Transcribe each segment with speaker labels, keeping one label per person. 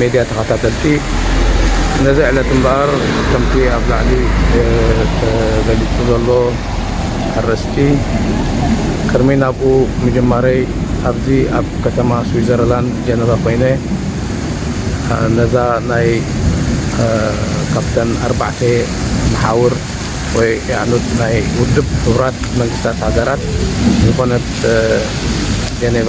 Speaker 1: ሜድያ ተኸታተልቲ ነዚ ዕለት እምበኣር ከምቲ ኣብ ላዕሊ ተገሊፁ ዘሎ ኣርእስቲ ቅድሚ ናብኡ ምጅማረይ ኣብዚ ኣብ ከተማ ስዊዘርላንድ ጀነቫ ኮይነ ነዛ ናይ ካብተን ኣርባዕተ መሓውር ወይ ያዕኑድ ናይ ውድብ ሕቡራት መንግስታት ሃገራት ዝኾነት ጀኔቫ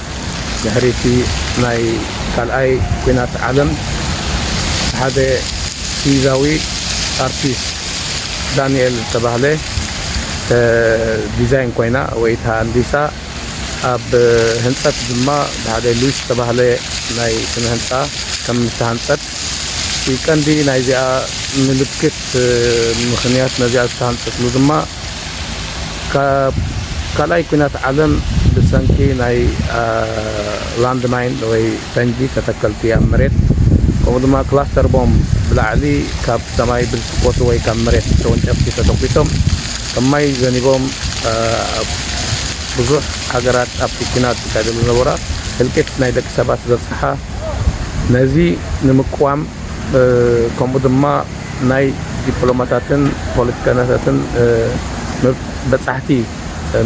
Speaker 1: ድሕሪ'ቲ ናይ ካልኣይ ኲናት ዓለም ሓደ ስዊዛዊ ኣርቲስት ዳኒኤል ዝተባህለ ዲዛይን ኮይና ወይ ተሃንዲሳ ኣብ ህንጸት ድማ ብሓደ ሉዊስ ዝተባህለ ናይ ስነ ህንጻ ከም ዝተሃንጸት እቲ ቀንዲ ናይዚኣ ምልክት ምኽንያት ነዚኣ ዝተሃንጸትሉ ድማ ካብ ካልኣይ ኲናት ዓለም ብሰንኪ ናይ ላንድ ማይን ወይ ፈንጂ ተተከልቲ ኣብ መሬት ከምኡ ድማ ክላስተር ቦምብ ብላዕሊ ካብ ሰማይ ብዝትኮሱ ወይ ካብ መሬት ተወንጨፍቲ ተተኲሶም ከም ማይ ዘኒቦም ኣብ ብዙሕ ሃገራት ኣብቲ ኲናት ዝካየደሉ ዝነበራ ህልቂት ናይ ደቂ ሰባት ዘብጽሓ ነዚ ንምቅዋም ከምኡ ድማ ናይ ዲፕሎማታትን ፖለቲከኛታትን በጻሕቲ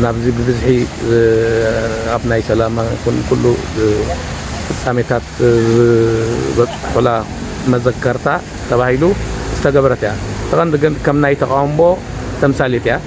Speaker 1: ናብዚ ብብዝሒ ኣብ ናይ ሰላም ይኹን ኩሉ ፍጻሜታት ዝበጽሑላ መዘከርታ ተባሂሉ ዝተገበረት እያ። እቲ ቀንዲ ግን ከም ናይ ተቓውሞ ተምሳሌት እያ።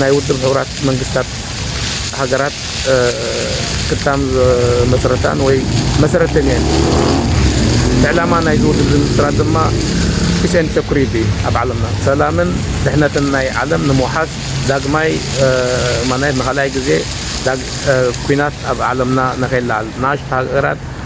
Speaker 1: ናይ ውድብ ሕቡራት መንግስታት ሃገራት ክታም ዝመስረታን ወይ መሰረተን እየን። ዕላማ ናይዚ ውድብ ዝምስራት ድማ Peace and Security እዩ። ኣብ ዓለምና ሰላምን ድሕነትን ናይ ዓለም ንምውሓስ ዳግማይ ማናየት ንኻልኣይ ግዜ ኲናት ኣብ ዓለምና ንከይለዓል ንኣሽቱ ሃገራት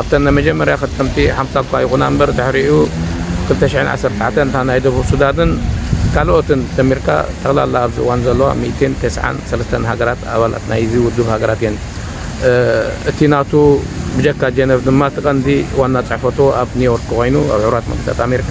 Speaker 1: ኣብተን ናይ መጀመርያ ክጥምቲ ሓምሳ እኳ ይኹና እምበር ድሕሪኡ ክልተ ሽሕን ዓሰርተ ትሽዓተን እታ ናይ ደቡብ ሱዳንን ካልኦትን ደሚርካ ጠቕላላ ኣብዚ እዋን ዘለዋ ሚእትን ተስዓን ሰለስተን ሃገራት ኣባላት ናይዚ ውድብ ሃገራት እየን። እቲ ናቱ ብጀካ ጀነቭ ድማ እቲ ቀንዲ ዋና ጽሕፈቱ ኣብ ኒውዮርክ ኮይኑ ኣብ ሕቡራት መንግስታት ኣሜሪካ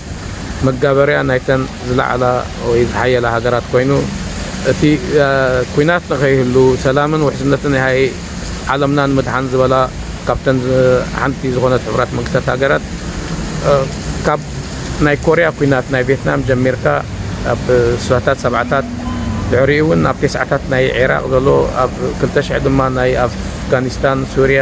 Speaker 1: መጋበርያ ናይተን ዝለዓላ ወይ ዝሓየላ ሃገራት ኮይኑ እቲ ኩናት ንከይህሉ ሰላምን ውሕስነትን ያሃይ ዓለምና ንምድሓን ዝበላ ካብተን ሓንቲ ዝኾነት ሕቡራት መንግስታት ሃገራት ካብ ናይ ኮርያ ኩናት ናይ ቬትናም ጀሚርካ ኣብ ስሳታት ሰብዓታት ድሕሪኡ እውን ኣብ ቴስዓታት ናይ ዒራቕ ዘሎ ኣብ ክልተ ሽሕ ድማ ናይ ኣፍጋኒስታን ሱርያ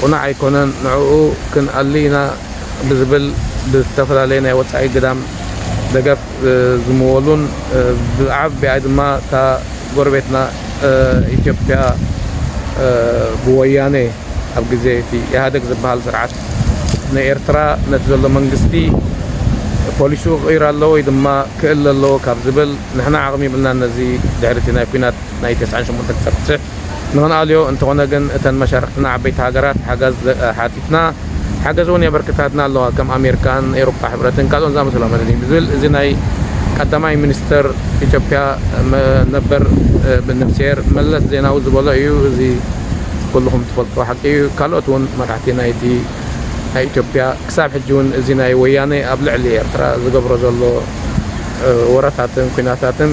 Speaker 1: ቁናዕ ኣይኮነን ንዕኡ ክንኣሊ ኢና ብዝብል ብዝተፈላለየ ናይ ወጻኢ ግዳም ደገፍ ዝምወሉን ብዓብብኣ ድማ እታ ጎረቤትና ኢትዮጵያ ብወያኔ ኣብ ግዜ እቲ ኢህኣደግ ዝብሃል ስርዓት ንኤርትራ ነቲ ዘሎ መንግስቲ ፖሊስኡ ክቕይር ኣለዎ ወይ ድማ ክእለ ኣለዎ ካብ ዝብል ንሕና ዓቕሚ ይብልናን ነዚ ድሕሪ እቲ ናይ ኩናት ናይ ተስዓን ሸሞንተን ክሳብ ትስዕ ንክንኣልዮ፣ እንተኾነ ግን እተን መሻርኽትና ዓበይቲ ሃገራት ሓጋዝ ሓቲትና ሓገዝ እውን የበርክታትና ኣለዋ ከም ኣሜርካን ኤሮፓ ሕብረትን ካልኦን ዝኣመሰሎምን እዩ ዝብል እዚ ናይ ቀዳማይ ሚኒስተር ኢትዮጵያ ነበር ንፍስሄር መለስ ዜናዊ ዝበሎ እዩ እዚ ኩሉኹም ትፈልጥዎ ሓቂ እዩ ካልኦት እውን መራሕቲ ናይቲ ናይ ኢትዮጵያ ክሳብ ሕጂ እውን እዚ ናይ ወያኔ ኣብ ልዕሊ ኤርትራ ዝገብሮ ዘሎ ወረታትን ኩናታትን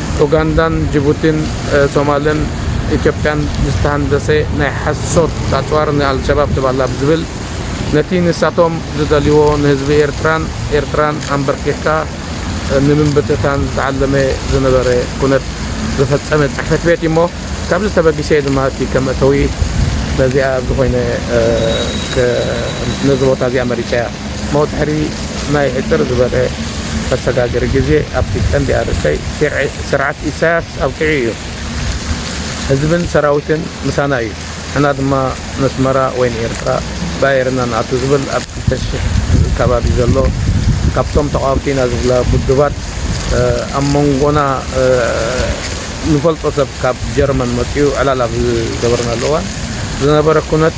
Speaker 1: ኡጋንዳን ጅቡቲን ሶማልን ኢትዮጵያን ዝተሃንደሰ ናይ ሓሶት ኣጽዋር ንኣልሸባብ ትባላ ብዝብል ነቲ ንሳቶም ዝደልይዎ ንህዝቢ ኤርትራን ኤርትራን ኣምበርኪኽካ ንምብትታን ዝተዓለመ ዝነበረ ኩነት ዝፈጸመ ጽሕፈት ቤት እዩሞ ካብዚ ተበጊሰ ድማ እቲ ከም መእተዊ ነዚኣ ኣብዚ ኮይነ ነዚ ቦታ እዚኣ መሪጸያ። መውትሕሪ ናይ ሕጽር ዝበለ መሰጋገሪ ግዜ ኣብቲ ቀንዲ ኣርእስተይ ስርዓት ኢሳያስ ኣብቂዑ ኢዩ። ህዝብን ሰራዊትን ምሳና ኢዩ። ንሕና ድማ ነስመራ ወይ ንኤርትራ ብኣየር ኢና ንኣቱ ዝብል ኣብ ክልተ ሽሕ ከባቢ ዘሎ ካብቶም ተቓወምቲ ኢና ዝብላ ውድባት ኣብ መንጎና ንፈልጦ ሰብ ካብ ጀርመን መጺኡ ዕላል ኣብ ዝገበርናሉ እዋን ዝነበረ ኩነት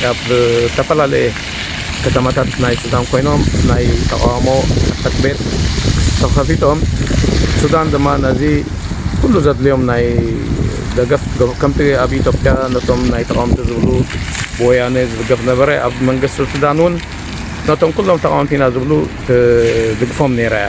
Speaker 1: ካብ ዝተፈላለየ ከተማታት ናይ ሱዳን ኮይኖም ናይ ተቓውሞ ጽሕፈት ቤት ተኸፊቶም ሱዳን ድማ ነዚ ኩሉ ዘድልዮም ናይ ደገፍ ከምቲ ኣብ ኢትዮጵያ ነቶም ናይ ተቓወምቲ ዝብሉ ብወያነ ዝድገፍ ነበረ ኣብ መንግስቲ ሱዳን እውን ነቶም ኩሎም ተቓወምቲ ኢና ዝብሉ ትድግፎም ነይራ እያ።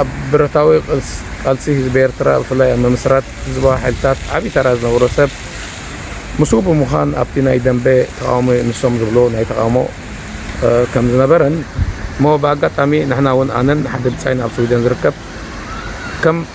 Speaker 1: ኣብ ብረታዊ ቃልሲ ህዝቢ ኤርትራ ብፍላይ ኣብ ምምስራት ህዝባዊ ሓይልታት ዓቢ ተራ ዝነበሮ ሰብ ምስኡ ብምዃን ኣብቲ ናይ ደምበ ተቓውሞ ንሶም ዝብልዎ ናይ ተቓውሞ ከም ዝነበረን እሞ ብኣጋጣሚ ንሕና እውን ኣነን ሓደ ብጻይን ኣብ ስዊደን ዝርከብ ከም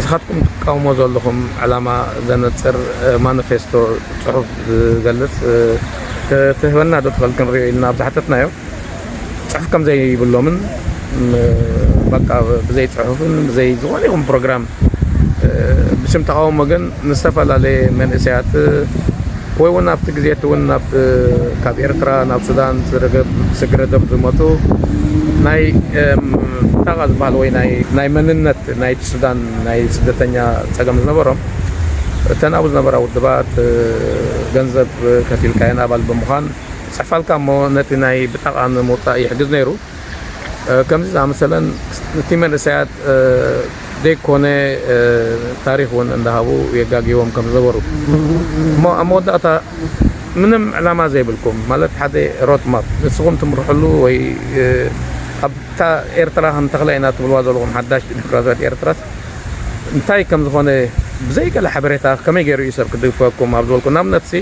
Speaker 1: እስኻትኩም ትቃወሞ ዘለኹም ዕላማ ዘነጽር ማነፌስቶ ጽሑፍ ዝገልጽ ክትህበና ዶ ትኽእል ክንሪኦ ኢልና ኣብ ዝሓተትናዮ ጽሑፍ ከም ዘይብሎምን በቃ ብዘይ ጽሑፍን ብዘይ ዝኾነ ይኹን ፕሮግራም ብስም ተቃውሞ ግን ንዝተፈላለየ መንእሰያት ወይ ውን ኣብቲ ግዜ እቲ ውን ናብ ካብ ኤርትራ ናብ ሱዳን ስግረ ዶብ ዝመጹ ናይ ብጣቓ ዝበሃል ወይ ናይ መንነት ናይቲ ሱዳን ናይ ስደተኛ ጸገም ዝነበሮም እተን ኣብኡ ዝነበራ ውድባት ገንዘብ ከፊልካየን ኣባል ብምዃን ይጽሕፋልካ እሞ ነቲ ናይ ብጣቓ ንምውጻእ ይሕግዝ ነይሩ። ከምዚ ዝኣመሰለን እቲ መንእሰያት ዘይኮነ ታሪኽ እውን እንዳሃቡ የጋግይዎም ከም ዝነበሩ እሞ ኣብ መወዳእታ ምንም ዕላማ ዘይብልኩም ማለት ሓደ ሮት ማፕ ንስኹም ትምርሕሉ ወይ ኣብታ ኤርትራ ከም ተኽላይ ኢና ትብልዋ ዘለኹም ሓዳሽ ዲሞክራሲያዊት ኤርትራስ እንታይ ከም ዝኾነ ብዘይ ገለ ሓበሬታ ከመይ ገይሩ እዩ ሰብ ክድግፈኩም ኣብ ዝበልኩ ንኣብነትሲ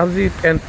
Speaker 1: ኣብዚ ጴንጤ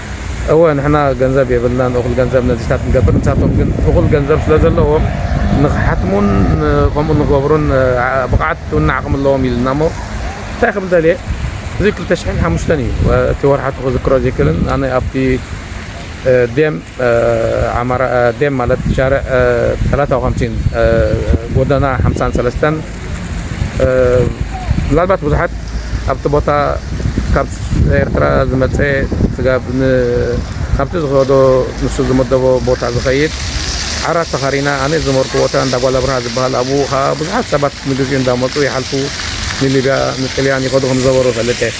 Speaker 1: እወ ንሕና ገንዘብ የብልናን እኹል ገንዘብ ነዚታት ክንገብር ንሳቶም ግን እኹል ገንዘብ ስለ ዘለዎም ንክሓትሙን ከምኡ ንክገብሩን ብቕዓት እውን ዓቕሚ ኣለዎም ኢሉና እሞ እንታይ ክብል ደልየ እዚ ክልተ ሽሕን ሓሙሽተን እዩ እቲ ወርሓቱ ክዝክሮ ዘይክእልን ኣነ ኣብቲ ዴም ዓማራ ዴም ማለት ሻርዕ ሰላሳ ወከምሲን ጎደና ሓምሳን ሰለስተን ምናልባት ብዙሓት ኣብቲ ቦታ ካብ ኤርትራ ዝመፀ ስጋብ ካብቲ ዝኸዶ ንሱ ዝመደቦ ቦታ ዝኸይድ ዓራት ተኻሪና ኣነ ዝመርኩ ቦታ እንዳ ጓል ኣብርሃ ዝበሃል ኣብኡ ከዓ ብዙሓት ሰባት ንግዚኡ እንዳመፁ ይሓልፉ ንሊብያ ንጥልያን ይኸዱ ከም ዝነበሩ ፈልጠ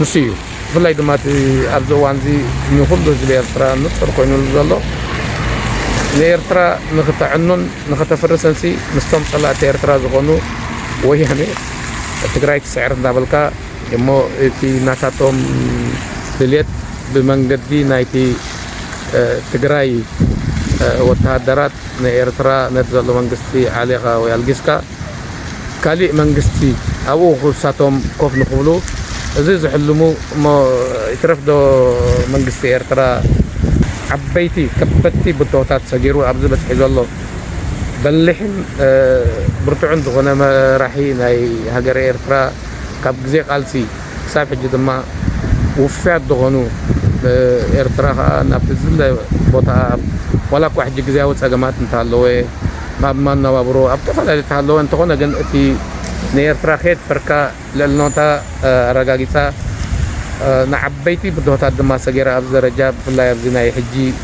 Speaker 1: ንሱ እዩ ብፍላይ ድማ እቲ ኣብዚ እዋን እዚ ንኹሉ ህዝቢ ኤርትራ ንጹር ኮይኑሉ ዘሎ ንኤርትራ ንክተዕኑን ንከተፍርስንሲ ምስቶም ጸላእቲ ኤርትራ ዝኾኑ ወያነ ትግራይ ትስዕር እንዳበልካ እሞ እቲ ናታቶም ድልየት ብመንገዲ ናይቲ ትግራይ ወተሃደራት ንኤርትራ ነቲ ዘሎ መንግስቲ ዓሌኻ ወይ ኣልጊስካ ካሊእ መንግስቲ ኣብኡ ክሳቶም ኮፍ ንክብሉ እዚ ዝሕልሙ እሞ ይትረፍ ዶ መንግስቲ ኤርትራ ዓበይቲ ከበድቲ ብድሆታት ሰጊሩ ኣብዚ በጺሑ ዘሎ በሊሕን ብርቱዕን ዝኮነ መራሒ ናይ ሃገረ ኤርትራ ካብ ግዜ ቃልሲ ክሳብ ሕጂ ድማ ውፉያት ዝኾኑ ኤርትራ ከኣ ናብቲ ዝድለ ቦታኣ ዋላ እኳ ሕጂ ግዝያዊ ጸገማት እንተሃለወ ኣብ መነባብሮ ኣብ ተፈላለዩ እንተሃለወ እንተኾነ ግን እቲ ንኤርትራ ከየድፈርካ ልዕልኖታ ኣረጋጊጻ ንዓበይቲ ብድሆታት ድማ ሰጊራ ኣብዚ ደረጃ ብፍላይ ኣብዚ ናይ ሕጂ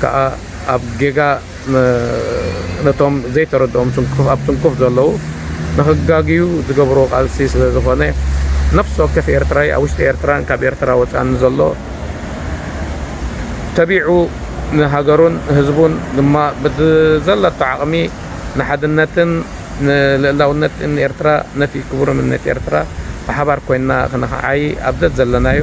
Speaker 1: ከኣ ኣብ ጌጋ ነቶም ዘይተረድኦም ስንኩፍ ኣብ ስንኩፍ ዘለዉ ንክጋግዩ ዝገብርዎ ቃልሲ ስለ ዝኮነ ነፍሲ ወከፍ ኤርትራይ ኣብ ውሽጢ ኤርትራን ካብ ኤርትራ ወጻእን ዘሎ ተቢዑ ንሃገሩን ህዝቡን ድማ ብዘለቶ ዓቅሚ ንሓድነትን ንልእላውነትን ኤርትራ ነቲ ክቡርምነት ኤርትራ ብሓባር ኮይንና ክንክዓዪ ኣብ ዘዘለናዮ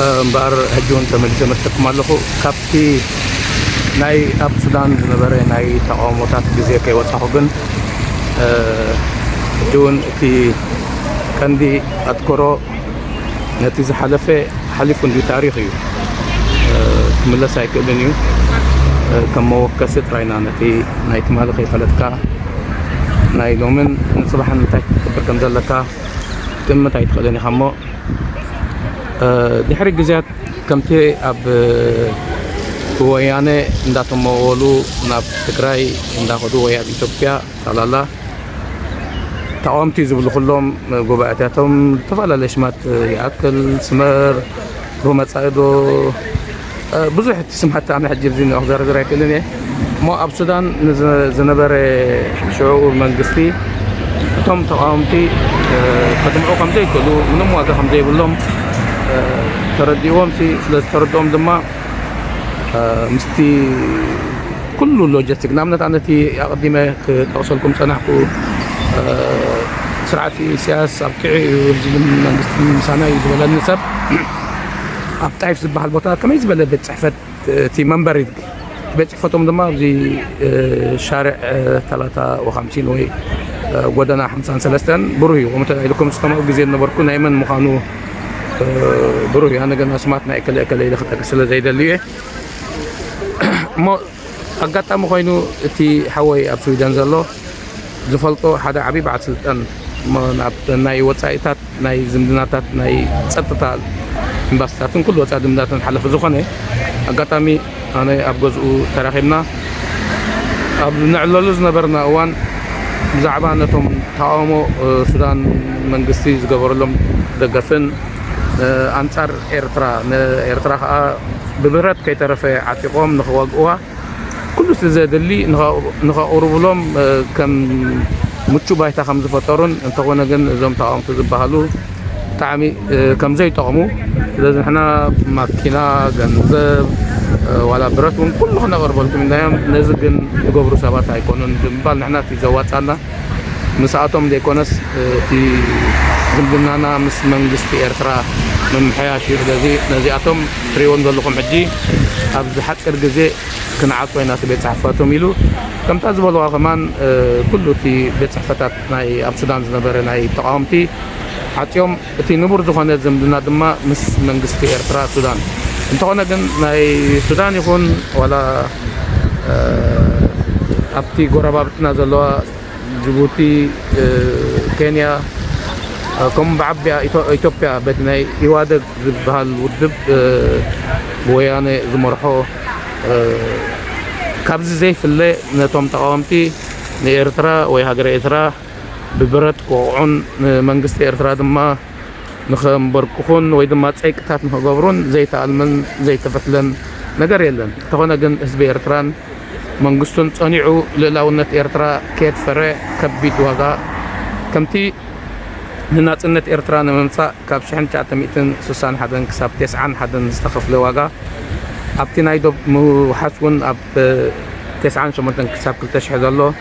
Speaker 1: እምበኣር ሕጂ እውን ተመሊሰ መሲለኩም ኣለኹ ካብቲ ናይ ኣብ ሱዳን ዝነበረ ናይ ተቃውሞታት ግዜ ከይወፃኹ ግን ሕጂ እውን እቲ ቀንዲ ኣትኮሮ ነቲ ዝሓለፈ ሓሊፉ እንዲ ታሪክ እዩ ክምለስ ኣይክእልን እዩ ከም መወከሲ ጥራይና ነቲ ናይ ትማሊ ከይፈለጥካ ናይ ሎምን ንፅባሕን እንታይ ክትገብር ከም ዘለካ ክትእምት ኣይትኽእልን ኢኻ እሞ ድሕሪ ግዝያት ከምቲ ኣብ ብወያነ እንዳተመወሉ ናብ ትግራይ እንዳኸዱ ወይ ኣብ ኢትዮጵያ ጠቕላላ ተቓወምቲ ዝብሉ ኩሎም ጉባኤታቶም ዝተፈላለየ ሽማት ይኣክል ስመር ዶ መፃኢ ዶ ብዙሕ እቲ ስም ሓቲ ኣነ ሕጂ ኣብዚ ክዘርዝር ኣይክእልን እየ እሞ ኣብ ሱዳን ንዝነበረ ሽዑኡ መንግስቲ እቶም ተቃወምቲ ከድምዑ ከም ዘይክእሉ ምንም ዋጋ ከም ዘይብሎም ተረዲእዎም ሲ ስለ ዝተረድኦም ድማ ምስቲ ኩሉ ሎጂስቲክ ንኣብነት ኣነ እቲ ኣቐዲመ ክጠቕሰልኩም ጸናሕኩ ስርዓት ኢሳያስ ኣብቂዑ እዩ ህዝብን መንግስትን ምሳና እዩ ዝበለኒ ሰብ ኣብ ጣይፍ ዝበሃል ቦታ ከመይ ዝበለ ቤት ፅሕፈት እቲ መንበሪ ቤት ፅሕፈቶም ድማ ኣብዚ ሻርዕ ተላታ ወካምሲን ወይ ጎደና ሓምሳን ሰለስተን ብሩህ እዩ ከምኡ ተባሂሉኩም ዝከምኡ ግዜ ዝነበርኩ ናይ መን ምዃኑ ብሩህ እዩ ኣነ ግን ኣስማት ናይ እከለ እከለ ኢለ ክጠቅስ ስለ ዘይደሊ እየ እሞ ኣጋጣሚ ኮይኑ እቲ ሓወይ ኣብ ስዊደን ዘሎ ዝፈልጦ ሓደ ዓብይ በዓል ስልጣን እሞ ናብ ናይ ወፃኢታት ናይ ዝምድናታት ናይ ፀጥታ ኤምባሲታትን ኩሉ ወፃኢ ዝምድናታት ሓለፊ ዝኾነ ኣጋጣሚ ኣነ ኣብ ገዝኡ ተራኺብና ኣብ ንዕለሉ ዝነበርና እዋን ብዛዕባ ነቶም ተቃውሞ ሱዳን መንግስቲ ዝገበረሎም ደገፍን ኣንጻር ኤርትራ ንኤርትራ ከኣ ብብረት ከይተረፈ ዓጢቖም ንኽወግእዋ ኩሉ'ቲ ዘድሊ ንኸቕርቡሎም ከም ምቹእ ባይታ ከም ዝፈጠሩን እንተኾነ ግን እዞም ተቓወምቲ ዝበሃሉ ብጣዕሚ ከም ዘይጠቕሙ ስለዚ ንሕና ማኪና ገንዘብ ዋላ ብረት እውን ኩሉ ክነቕርበልኩም ኢልናዮም ነዚ ግን ዝገብሩ ሰባት ኣይኮኑን ብምባል ንሕና እቲ ዘዋጻና ምስኣቶም ዘይኮነስ እቲ ዝምድናና ምስ መንግስቲ ኤርትራ ምምሕያሽ እዩ። ስለዚ ነዚኣቶም ትሪእዎም ዘለኹም ሕጂ ኣብዚ ሓጺር ግዜ ክንዓጾ ኢና እቲ ቤት ጽሕፈቶም ኢሉ። ከምታ ዝበልዋ ከማን ኩሉ እቲ ቤት ጽሕፈታት ናይ ኣብ ሱዳን ዝነበረ ናይ ተቓወምቲ ዓጽዮም። እቲ ንቡር ዝኾነ ዝምድና ድማ ምስ መንግስቲ ኤርትራ ሱዳን እንተኾነ ግን ናይ ሱዳን ይኹን ዋላ ኣብቲ ጎረባብትና ዘለዋ ጅቡቲ ኬንያ ከምኡ ብዓቢኣ ኢትዮጵያ በቲ ናይ ኢዋደግ ዝበሃል ውድብ ብወያነ ዝመርሖ ካብዚ ዘይፍለ ነቶም ተቓወምቲ ንኤርትራ ወይ ሃገረ ኤርትራ ብብረት ክወቕዑን ንመንግስቲ ኤርትራ ድማ ንኸምበርክኹን ወይ ድማ ጸይቅታት ንኸገብሩን ዘይተኣልመን ዘይተፈትለን ነገር የለን። እንተኾነ ግን ህዝቢ ኤርትራን መንግስቱን ጸኒዑ ልእላውነት ኤርትራ ከየድፈረ ከቢድ ዋጋ ከምቲ ንናጽነት ኤርትራ ንምምጻእ ካብ ሽሕን ትሽዓተ ሚእትን ስሳን ሓደን ክሳብ ቴስዓን ሓደን ዝተኸፍለ ዋጋ ኣብቲ ናይ ዶብ ምውሓስ ውን ኣብ ቴስዓን ሸሞንተን ክሳብ ክልተ ሽሕ ዘሎ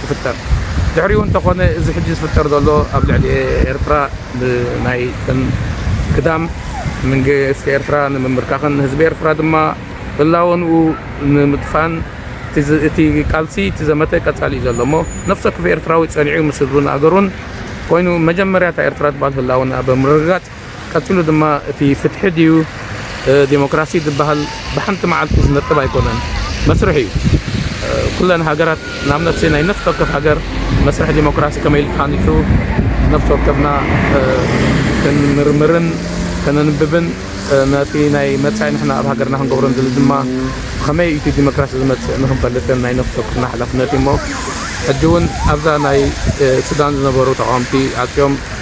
Speaker 1: ክፍጠር ድሕሪኡ እንተኾነ እዚ ሕጂ ዝፍጠር ዘሎ ኣብ ልዕሊ ኤርትራ ብናይ እተን ግዳም መንግስቲ ኤርትራ ንምምብርካኽን ንህዝቢ ኤርትራ ድማ ህላወንኡ ንምጥፋን እቲ ቃልሲ እቲ ዘመተ ቀጻሊ እዩ ዘሎ እሞ ነፍሲ ወከፍ ኤርትራዊ ጸኒዑ ምስ ህዝቡን ኣገሩን ኮይኑ መጀመርያ እታ ኤርትራ ትባል ህላወንኣ ብምርግጋጽ ቀጺሉ ድማ እቲ ፍትሒ ድዩ ዴሞክራሲ ዝበሃል ብሓንቲ መዓልቲ ዝነጥብ ኣይኮነን፣ መስርሕ እዩ። ኩለን ሃገራት ንኣብነት ናይ ነፍሲ ወከፍ ሃገር መስርሕ ዴሞክራሲ ከመይ ኢሉ ተሃኒጹ ነፍሲ ወከፍና ክንምርምርን ከነንብብን ነቲ ናይ መጻኢ ንሕና ኣብ ሃገርና ክንገብሮ ንደሊ ድማ ብኸመይ እዩ እቲ ዴሞክራሲ ዝመጽእ ንኽንፈልጥን ናይ ነፍሲ ወከፍና ሓላፍነት እዩሞ ሕጂ እውን ኣብዛ ናይ ሱዳን ዝነበሩ ተቓወምቲ ዓጽዮም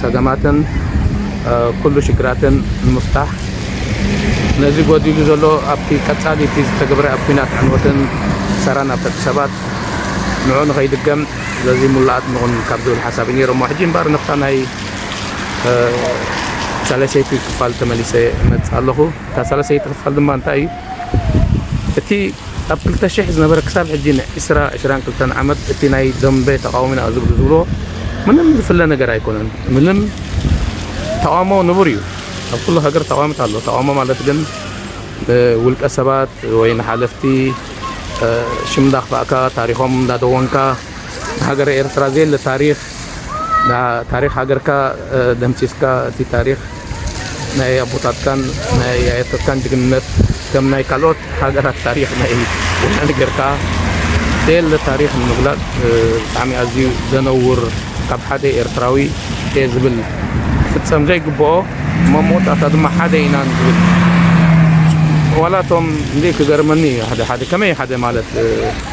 Speaker 2: ፀገማትን ኩሉ ሽግራትን ንምፍታሕ ነዚ ጎዲሉ ዘሎ ኣብቲ ቀፃሊ እቲ ዝተገብረ ኣብ ኩናት ዕንወትን ክሳራን ኣብ ደቂ ሰባት ንዑ ንኸይድገም በዚ ሙሉኣት ንኹን ካብ ዝብል ሓሳብ እዩ ነይሮሞ ሕጂ እምበር ንፍታ ናይ ሳለሰይቲ ክፋል ተመሊሰ እመፅእ ኣለኹ እታ ሳለሰይቲ ክፋል ድማ እንታይ እዩ እቲ ኣብ ክልተ ሽሕ ዝነበረ ክሳብ ሕጂ ን ዕስራ፣ ዕስራን ክልተን ዓመት እቲ ናይ ደምበ ተቓውሞ ኢና ዝብሉ ዝብልዎ ምንም ዝፍለ ነገር ኣይኮነን ምንም ተቓውሞ ንቡር እዩ ኣብ ኩሉ ሃገር ተቓዋምት ኣሎ ተቓውሞ ማለት ግን ን ውልቀ ሰባት ወይ ን ሓለፍቲ ሽም እንዳኽፋእካ ታሪኾም እንዳደወንካ ን ሃገረ ኤርትራ ዘየለ ታሪኽ ንታሪኽ ሃገርካ ደምሲስካ እቲ ታሪኽ ናይ ኣቦታትካን ናይ ኣያታትካን ጅግንነት ከም ናይ ካልኦት ሃገራት ታሪኽ ናይ ወያነ ጌርካ ዘየለ ታሪኽ ንምግላጽ ብጣዕሚ ኣዝዩ ዘነውር ካብ ሓደ ኤርትራዊ እየ ዝብል ክፍጸም ዘይግብኦ እሞ መወዳእታ ድማ ሓደ ኢና ንዝብል ዋላ እቶም ክንደይ ክገርመኒ እዩ ሓደ ሓደ ከመይ ሓደ ማለት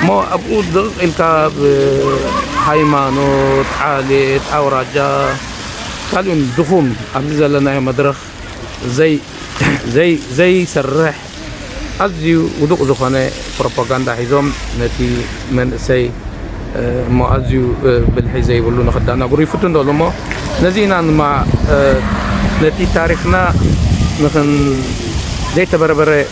Speaker 2: እሞ ኣብኡ ድቕቕ ኢልካ ብ ሃይማኖት፣ ዓሌት፣ ኣውራጃ ካልእን ድኹም ኣብዚ ዘለናዮ መድረኽ ዘይሰርሕ ኣዝዩ ውዱቕ ዝኾነ ፕሮፖጋንዳ ሒዞም ነቲ መንእሰይ እሞ ኣዝዩ ብልሒ ዘይብሉ ንኽዳናግሩ ይፍትኑ ዘለዉ እሞ ነዚ ኢና ድማ ነቲ ታሪኽና ንኽን ዘይተበረበረ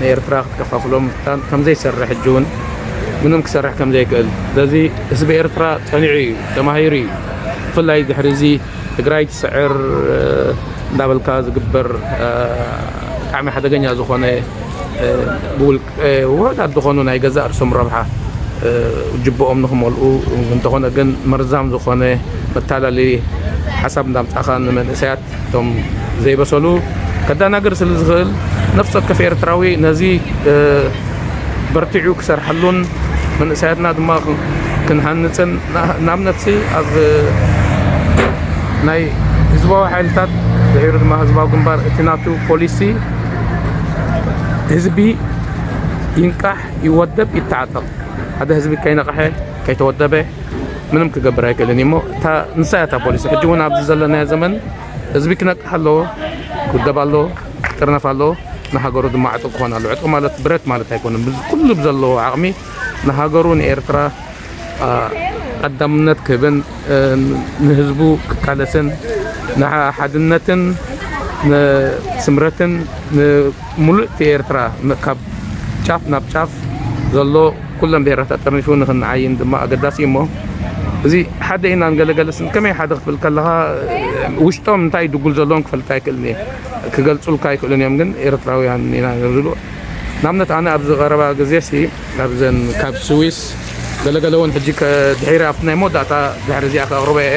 Speaker 2: ንኤርትራ ክትከፋፍሎ ምፍታን ከምዘይሰርሕ ሕጂ ውን ምንም ክሰርሕ ከምዘይክእል ስለዚ ህዝቢ ኤርትራ ጸኒዑ ኢዩ ተማሂሩ ኢዩ ብፍላይ ድሕሪ እዚ ትግራይ ትስዕር እንዳበልካ ዝግበር ብጣዕሚ ሓደገኛ ዝኾነ ብውልቀ ውሑዳት ዝኾኑ ናይ ገዛእ ርእሶም ረብሓ ጅብኦም ንክመልኡ እንተኾነ ግን መርዛም ዝኾነ መታለሊ ሓሳብ እንዳምጻኻ ንመንእሰያት እቶም ዘይበሰሉ ከዳናግር ስለ ዝኽእል ነፍሲ ወከፍ ኤርትራዊ ነዚ በርቲዑ ክሰርሓሉን መንእሰያትና ድማ ክንሃንጽን ንኣብነትሲ ኣብ ናይ ህዝባዊ ሓይልታት ድሒሩ ድማ ህዝባዊ ግንባር እቲ ናቱ ፖሊሲ ህዝቢ ይንቃሕ ይወደብ ይተዓጠቕ ሓደ ህዝቢ ከይነቕሐ ከይተወደበ ምንም ክገብር ኣይክእልን እዩ እሞ እታ ንሳ እያ እታ ፖሊሲ ሕጂ እውን ኣብዚ ዘለናዮ ዘመን ህዝቢ ክነቅሕ ኣለዎ ክውደብ ኣለዎ ክጥርነፍ ኣለዎ ንሃገሩ ድማ ዕጡቕ ክኾን ኣለዎ ዕጡቕ ማለት ብረት ማለት ኣይኮነን ኩሉ ብዘለዎ ዓቕሚ ንሃገሩ ንኤርትራ ቀዳምነት ክህብን ንህዝቡ ክቃለስን ንሓድነትን ንስምረትን ሙሉእቲ ኤርትራ ካብ ጫፍ ናብ ጫፍ ዘሎ ኩለን ብሄራት ኣጠርኒፉ ንክንዓይን ድማ ኣገዳሲ እዩሞ እዚ ሓደ ኢናን ገለ ገለ ስል ከመይ ሓደ ክትብል ከለኻ ውሽጦም እንታይ ድጉል ዘለዎም ክፈልጥ ኣይክእልን እየ ክገልጹልካ ኣይክእሉን እዮም ግን ኤርትራውያን ኢና ዝብሉ ናብነት ኣነ ኣብዚ ቀረባ ግዜ ሲ ኣብዘን ካብ ስዊስ ገለገለ እውን ሕጂ ድሒረ ኣብቲ ናይ መወዳእታ ድሕሪ እዚኣ ከቕርበ እየ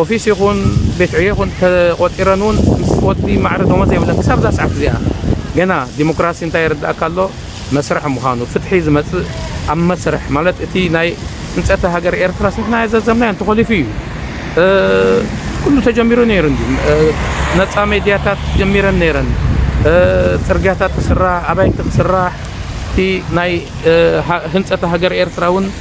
Speaker 2: ኦፊስ ይኹን ቤት ዕዮ ይኹን ተቖጺረን ውን ምስ ወዲ ማዕረ ደሞዝ የብለን ክሳብ እዛ ሰዓት እዚኣ ገና ዲሞክራሲ እንታይ የረድኣካ ኣሎ መስርሕ ምዃኑ ፍትሒ ዝመጽእ ኣብ መስርሕ ማለት እቲ ናይ ህንጸተ ሃገር ኤርትራስ ንሕና ዘዘምናዮ እንተኾሊፉ እዩ ኩሉ ተጀሚሩ ነይሩ እንድዩ ነጻ ሜድያታት ጀሚረን ነይረን ጽርግያታት ክስራሕ ኣባይቲ ክስራሕ እቲ ናይ ህንጸተ ሃገር ኤርትራ ውን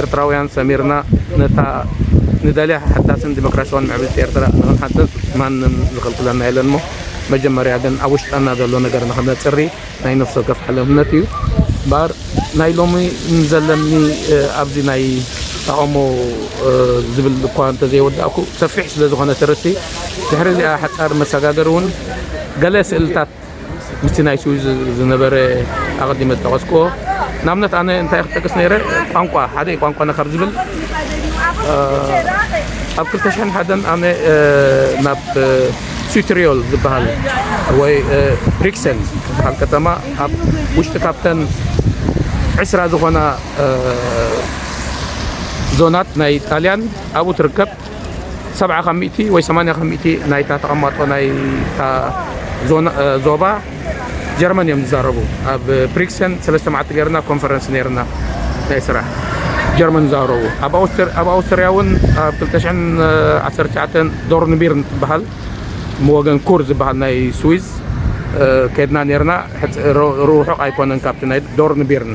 Speaker 2: ኤርትራውያን ሰሚርና ነታ ንደልያ ሓዳስን ዲሞክራስያውን ምዕብልቲ ኤርትራ ንኽንሓድስ ማንም ዝኽልክለና የለን እሞ መጀመርያ ግን ኣብ ውሽጠና ዘሎ ነገር ንኽነጽሪ ናይ ነፍሲ ወከፍ ሓለፍነት እዩ እምበኣር ናይ ሎሚ ንዘለኒ ኣብዚ ናይ ተቓውሞ ዝብል እኳ እንተዘይወዳእኩ ሰፊሕ ስለ ዝኾነ ትርቲ ድሕሪ እዚኣ ሓጻር መሰጋገሪ እውን ገለ ስእልታት ምስቲ ናይ ስዊዝ ዝነበረ ኣቐዲመ ዝጠቐስክዎ ንኣብነት ኣነ እንታይ ክጠቅስ ነይረ ቋንቋ ሓደ ቋንቋና ካብ ዝብል ኣብ 2001 ኣነ ናብ ሱትሪዮል ዝበሃል ወይ ሪክሰን ዝበሃል ከተማ ኣብ ውሽጢ ካብተን ዕስራ ዝኾና ዞናት ናይ ጣልያን ኣብኡ ትርከብ ሰብዓ ካብ ሚእቲ ወይ ሰማንያ ካብ ሚእቲ ናይታ ተቐማጦ ናይታ ዞባ ጀርመን እዮም ዝዛረቡ። ኣብ ብሪክሰን ሰለስተ መዓልቲ ገይርና ኮንፈረንስ ነይርና ናይ ስራሕ ጀርመን ዝዛረቡ። ኣብ ኣውስትርያ እውን ኣብ ክልተ ሽሕን ዓሰርተ ትሽዓተን ዶርንቢርን ትበሃል ወገን ኩር ዝበሃል ናይ ስዊዝ ከድና ነይርና። ርውሑቕ ኣይኮነን ካብቲ ናይ ዶርንቢርን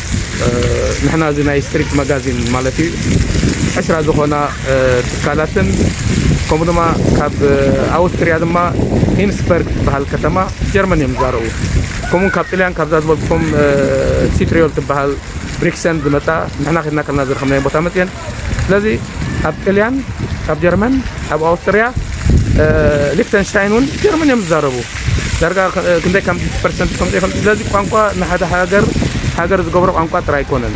Speaker 2: ንሕና እዚ ናይ ስትሪት ማጋዚን ማለት እዩ ዕስራ ዝኾና ትካላትን ከምኡ ድማ ካብ ኣውስትርያ ድማ ሂንስበርግ ትበሃል ከተማ ጀርመን እዮም ዝዛረቡ ከምኡ ካብ ጥልያን ካብዛ ዝበልኩም ሲትሪዮል ትበሃል ብሪክሰን ዝመፃ ንሕና ከድና ከለና ዝረኸብናዮ ቦታ መፅየን ስለዚ ኣብ ጥልያን ኣብ ጀርመን ኣብ ኣውስትርያ ሊክተንሽታይን እውን ጀርመን እዮም ዝዛረቡ ዳርጋ ክንደይ ከም ፐርሰንት ከም ዘይፈልጥ ስለዚ ቋንቋ ንሓደ ሃገር ሃገር ዝገብሮ ቋንቋ ጥራይ ኣይኮነን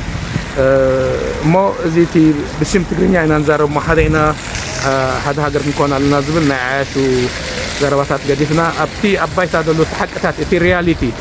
Speaker 2: እሞ እዚ እቲ ብሽም ትግርኛ ኢና ንዛረብ እሞ ሓደ ኢና ሓደ ሃገር ክንኮን ኣለና ዝብል ናይ ዓያሹ ዘረባታት ገዲፍና ኣብቲ ኣብ ባይታ ዘሎ እቲ ሓቅታት እቲ ሪያሊቲ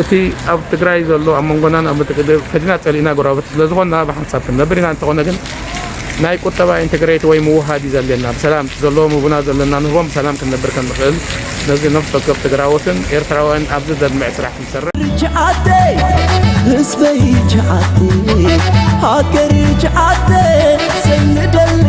Speaker 2: እቲ ኣብ ትግራይ ዘሎ ኣብ መንጎና ናብ ምትእግግ ፈቲና ጸሊእና ጎረባብቲ ስለዝኾንና ብሓንሳብ ክንነብር ኢና እንተኾነ ግን ናይ
Speaker 1: ቁጠባ ኢንተግሬት ወይ ምውህሃድ እዩ ዘድልየና ብሰላም እቲ ዘለዎም ህቡና ዘለና ንህቦም ብሰላም ክንነብር ከም ንኽእል ነዚ ነፍሲ ወከፍ ትግራዎትን ኤርትራውያን ኣብዚ ዘድምዕ ስራሕ ክንሰርሕ
Speaker 3: ህዝበይ ጃዓተይ ሃገር ጃዓተይ ዘይንደሊ